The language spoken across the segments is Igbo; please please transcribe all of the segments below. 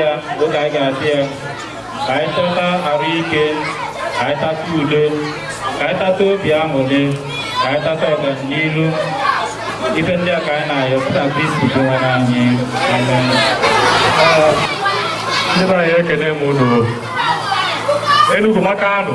ya oge anyị ga-asị ya ka anyị tata arụ ike ka anyị tata udo ka anyị tata obi aṅụrị ka anyị tata ọganihu ife ndị a ka anyị na-ayọ pụta kristi bụ onyenwe anyị amen ndị be anyị ekene m unu Enugu maka anụ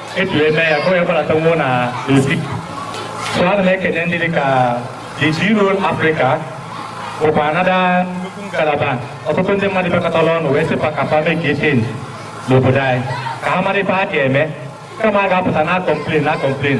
etu eme ya ka onye gbalata nwụọ na n'ozi so ana m ekene ndị dịka the zero africa bụkwa another nnukwu ngalaba ọtụtụ ndị mmadụ bịakọtara ọnụ wee sị fa ka fa mee ka echenji n'obodo anyị ka ha mara ife ha ga-eme kama a ga-apụta na-acomplain na-acomplain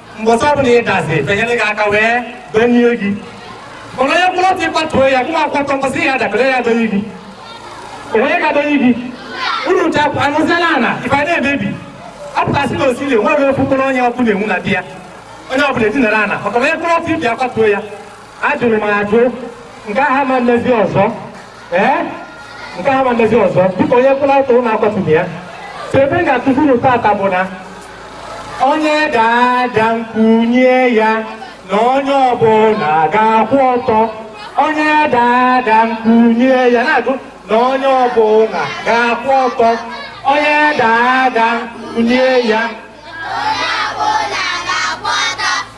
mbọsị ọbụla ị dazi fa enyere gị aka wee bunie gị mana onye kwụrụ ọtọ ị kwatuo ya gụma akwatọ mbọsị ya dakọrọ ya bunie gị onye ga-adọnie gị unu ncha anọziela ana ife a na-emebi apụtasị na osiri enweghị ofu mkpụrụ onye ọbụla enwu na di ya onye ọbụla edinara ana maka onye kwụrụ ọtọ ibe akwatuo ya ajụrụ m ajụ nke ahụ ama emezi ọzọ ee nke ahụ ama emezi ọzọ dịka onye kwụrụ ọtọ unu akwatuo ya so ife m ga-akụziri unu tata bụ na onye daa ada m kunie ya na onye ọbụla ga-akwụ ọtọ onye daa ada m kunie ya na-ajụ na onye ọbụla ga-akwụ ọtọ onye daa ada m kunie ya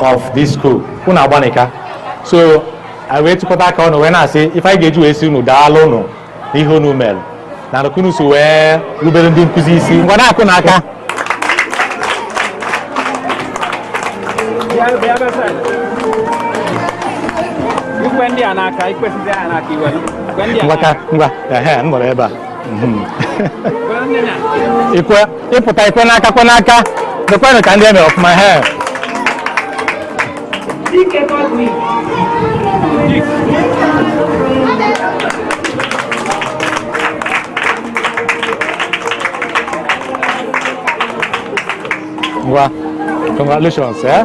of this school unu agbanịka so anyị wee tụkọta aka ọnụ wee na-asị ife anyị ga-eji wee si unu daalụ unu n'ihe unu mere na nụkunu so wee rubere ndị nkụzi isi ngwa na-akụ ha aka ị kwe ndị a n'aka ị kwesịzi ha n'aka i wee ngwa ka ngwa ehe m nọrọ ebe a Mhm. ikwe ị pụta ị kwe n'aka kwe n'aka mekwanụ ka ndị eme ọfụma he ngwa congratulations eh?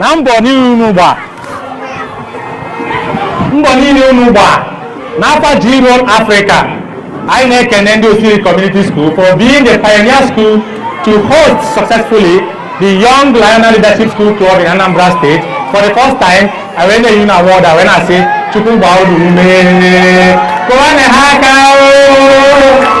na mbọ niile unu gba mbọ niile unu gba n'afa G-Roll Africa anyị na-ekene ndị Osiri Community School for being the pioneer school to host successfully the Young Lionel Leadership School Club in Anambra State for the first time anyị wee na-enye ha award anyị wee na-asị Chukwu gbaa unu ume kụwanụ ha aka oo.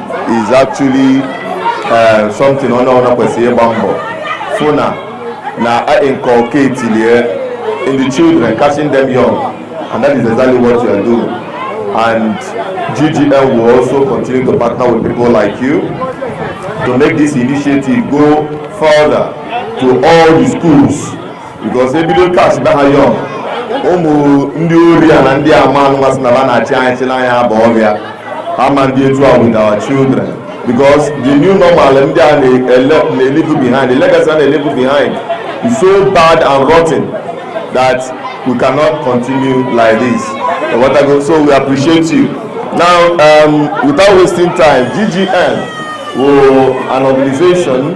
is actually eh, something onye ọbụla kwesịrị ịgba mbọ fụ na na a inculcate lie in the children catching them young and that is exactly what you are doing and GGM will also continue to partner with people like you to make this initiative go further to all the schools because ebido catch ba ha young ụmụ ndị ori a na ndị ama anụmasị na ba na-achị anyị chịla anyị aba ọbịa ama ndị etu a with our children because the new normal ndị a na-elive behind the legacy a na-elive behind is so bad and rotten that we cannot continue like this so we appreciate you now um, without wasting time ggm wụ an organization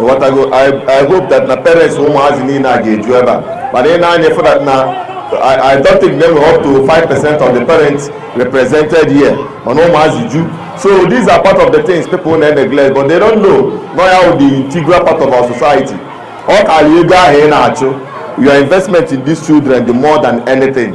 Ịghọtago, I I hope that na parents ụmụazị niile a ga-eju ebe a mana ị nee anya fụ that na I I don't think na enwere up to 5 percent of the parents represented here mana ụmụazị ju so these are part of the things people na-eneglect but they don't know na ya wụ the integral part of our society ọ karịa ego ahụ ị na-achụ your investment in these children dị more than anything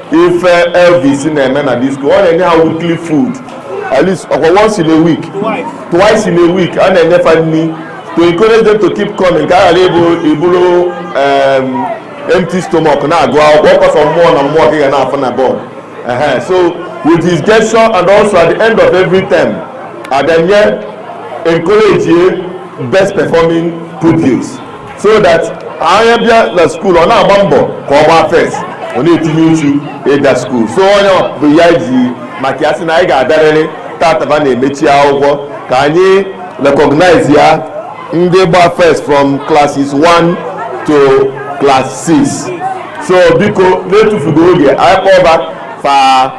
ife elvis na-eme na this school ọ na-enye ha weekly food at least ọkwa once in a week twice in a week a na-enye fa nri to encourage them to keep coming ka a ghara ịbụ iburu um, empty stomach na-agụ akwụkwọ ọkwa sọ mmụọ na mmụọ ka ị ga na-afụ na bọọdụ so with his gesture and also at the end of every term a na-encourage best performing pupils so that onye bịa na school ọ na-agba mbọ ka ọ gbaa first ọ na-etinye uchu ịga school so onye bụ ya ji maka ya sị na anyị ga-abịarịrị taata ba na-emechi akwụkwọ ka anyị recognize ya ndị gba first from classes 1 to class 6 so biko na-etufughị oge anyị kpọba fa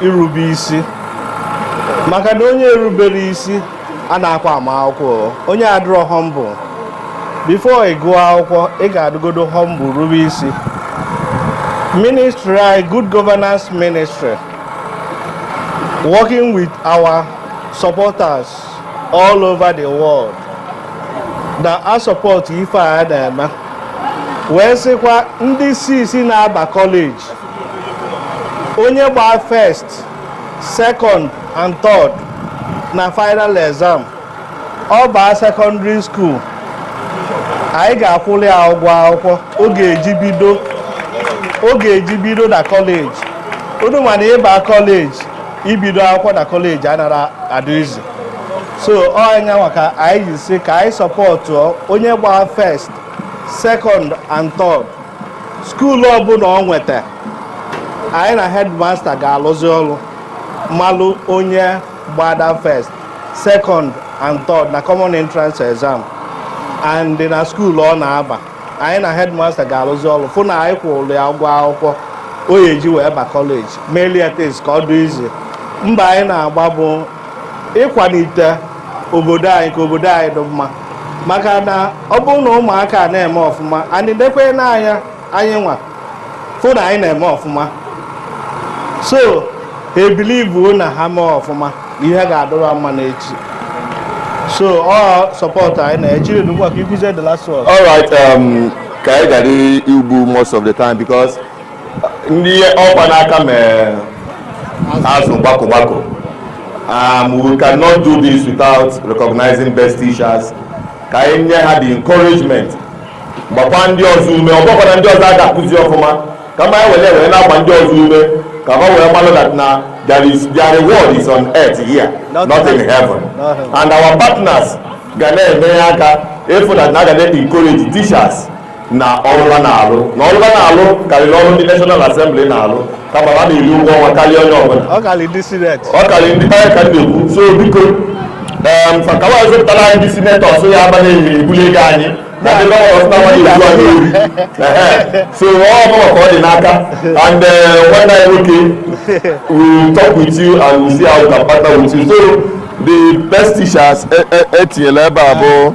irube isi maka na onye erubere isi anakwa ama akwụkwọ onye adịrọ humble before ị gụọ akwụkwọ ị ga-adụgodo humble rube isi ministry anyị good governance ministry working with our supporters all over the world na-asupport ife a na-eme wee sịkwa ndị six na-aba kọleji onye gbaa first second and third na final exam ọ baa secondary school anyị ga-akwụrụ ya ụgwọ akwụkwọ ọ ga-eji bido ọ ga-eji bido na kọleji unu ma na ịba kọleji ibido akwụkwọ na kọleji anara adị easy so ọnya maka anyị ji sị ka anyị supportụọ onye gbaa first second and third skuulu ọbụla ọ nweta anyị na headmaster ga-alụzi ọrụ malụ onye gbada first second and third na common entrance exam and na skuulu ọ na-aba anyị na headmaster ga-alụzi ọrụ fụ na anyị kwụrụ ya ụgwọ akwụkwọ o ji wee ba kọleji mee at least ka ọ dị easy mbọ anyị na-agba bụ ịkwalite obodo anyị ka obodo anyị dị mma maka na ọ bụrụ na ụmụaka na-eme ọfụma anyị dekwe n'anya anyị nwa fụ na anyị na-eme ọfụma so I believe na ha mee ọfụma ihe ga-adịrị mma n'echi so ọ support anyị na-ejiri n'ugbu a ka ikwuzie the last word. all right um, ka anyị ghara igbu most of the time because ndị ọkwa n'aka mee azụ gbakọ gbakọ um, we cannot do this without recognizing best teachers ka anyị nye ha the encouragement gbakwa ndị ọzọ ume ọ bụkwara ndị ọzọ a ga-akụzi ọfụma kama e were were na-agba ndị ọzọ ume ka fa were malụ that na there is their reward is on earth here not, not in heaven and our partners ga na-enye aka ịfụ that na a ga na-encourage teachers na ọlụ ba na-alụ na ọlụ ba na-alụ karịrị ọrụ ndị National Assembly na-alụ kama ha na-eri ụgwọ ọnwa karịa onye ọbụla ọ karịrị ndị sineti ọ karịrị ndị karịa ka na-ekwu so biko maka wa zụpụtara anyị ndị sineti ọsụ ya ba na-eri ebuli ego anyị na ndị gọvanọ ọsụ na-awa na-ebu anyị eri so ọ bụla ka ọ dị n'aka and nwanne anyị nwoke we talk with you and we see how we can partner with you so the best teachers etinyela e, e ebe a bụ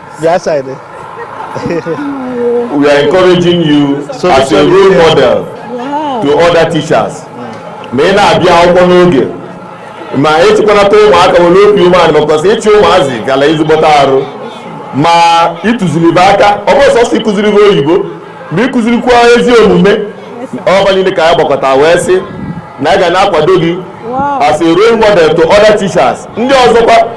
Your side. Eh? we are encouraging you so as a role model wow. to other teachers. ma ị na-abịa akwụkwọ n'oge ma ịchịkwanata ụmụaka nwere obi umeala because ịchị ụmụazị rara ezigbote arụ ma ịtụziri be aka ọ bụrọ sọsọ ịkụziri be oyibo ma ịkụzirikwa ezi omume ọ ba niile ka anyị gbakọta wee sị na anyị ga na-akwado gị as a role model to other teachers ndị ọzọkwa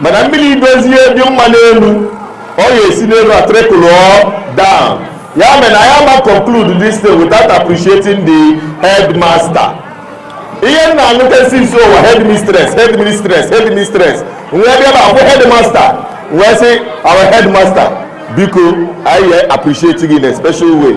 mana mmiri dozie dị mma n'elu ọ ga-esi n'elu a trickle down ya mere na anyị ama conclude this day without appreciating the headmaster ihe m na-anụta isi nso ụwa headmistress headmistress headmistress m wee bịa bakwu headmaster m wee sị our headmaster biko anyị appreciate gị in a special way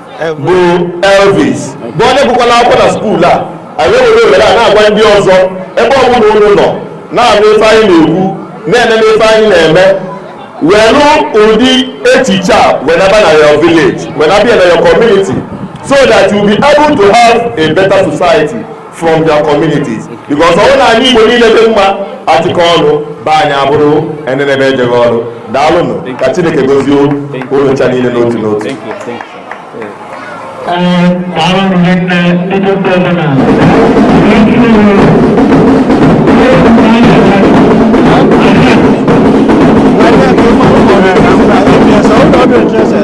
bụ Elvis bụ onye gụkwala akwụkwọ na school a anyị were ohere a na-agwa ndị ọzọ ebe ọ bụla unu nọ na-anụ ife anyị na-ekwu na-enene ife anyị na-eme welu ụdị echiche a wenaba na your village wenaba na your community so that you be able to have a better society from their communities because ọ na anị Igbo niile dị mma a chịkọọ ọnụ be anyị abụrụ enenebe ejeghị ọlụ daalụnụ ka Chineke gozie unu ncha niile n'otu n'otu Thank you.